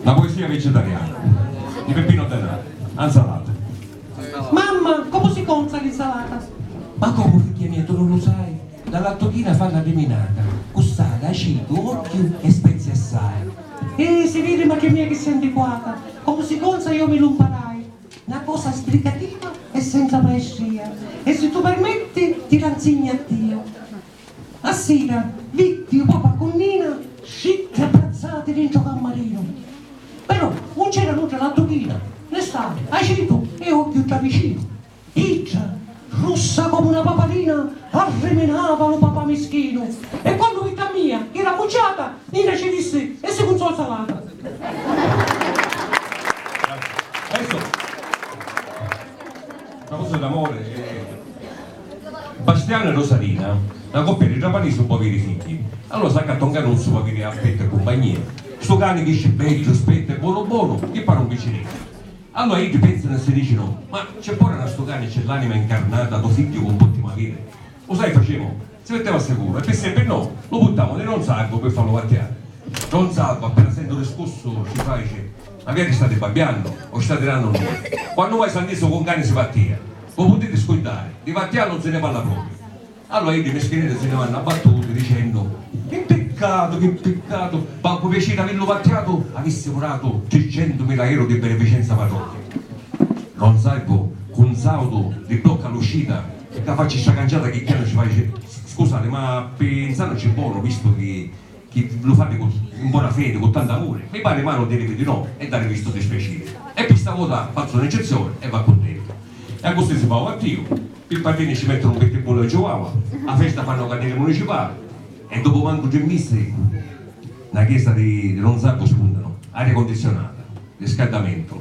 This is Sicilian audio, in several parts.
Na poesia vicitariana di Peppino Denari, A 'nsalata. Mamma, comu si conza l'insalata? Ma comu, figghia mia, tu nun lu sai? La lattuchina fa la liminata, cu sali, acitu, ogghiu e spezii assai. Eh, si viri, macchia mia, chi si antiquata! Comu si conza io mi lu 'mparai. Na cosa sbrigativa e senza maestria. E si tu permetti, ti la 'nsignu a tia. A sira, vitti u papa cu Nina scitti abbrazzati dintra u cammarinu. Però, un c'era nudda la duchina ne stari acitu e ogghiu dda vicinu. Idda, russa comu na paparina, arriminava lu papa mischinu e quannu vitti a mia chi era mucciata, Nina ci dissi e si cunzò salata. Na cosa d'amore e. Bastianu e Rosarina, na coppia di trapanisi un po' aviri figghi. Allora s'accatta un canuzzu p'aviri affettu e cumpagnia. Stu cani crisci beddu, spettu e bonu bonu, chi pari un picciriddu. Allora iddi pensanu e si dicinu, Ma c'è pora na stu cani c'è l'anima incarnata do figghiu c'un pottemu aviri. U sai facemu? Si metteva sicuru, e pi sempri no, lu puttamu di don Saggu pi fallu vattiari. Don Saggu, appena senti u discussu, ci faici, Ma vi ati stati babbiannu, o stati dannu nui? Quannu mai s'annisu cu un cani si vattia? Vu putiti scuddari, di vattiari un si ni parla propriu. Allura iddi mischineddi si ni vannu abbattuti, dicennu, Chi piccatu, chi piccatu, mancu piaciri avillu vattiatu, avissimu datu tricentu mila eru di beneficenza patoti. Don Saggu, cu un sautu di bocca lucita, E ca facci sta canciata chi chianu ci faci scusari ma pinsannuci bonu vistu chi chi lu fati cu in bona fedi cu tantu amuri mi pari malu dirivi di no e darivi stu dispiaciri e pi sta vota fazzu n'eccezioni e va cuntentu e accussì si fa u attiu pi patini ci mettunu un pittibbullu e chihuahua a festa fannu cadiri municipali e dopu mancu tri misi na chiesa di di Ronzagu spuntanu aria condizionata riscaddamentu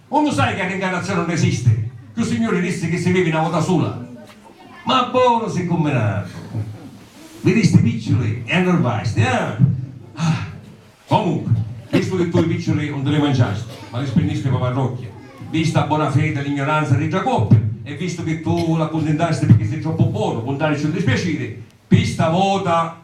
U lu sai ca rincarnazioni nun esisti? Chiù signuri dissi chi si vivi na vota sula. Ma bonu si cumminatu! Viristi picciuli e annurvasti, ah! Ah! Comunqui, vistu chi tu i picciuli un ti li manciasti, ma li spinnisti pâ parrocchia, vista a bona fedi e l'ignuranza di dda coppia, e vistu chi tu l'accundintasti pirchì si troppu bonu, puntarici un dispiaciri, pi sta vota.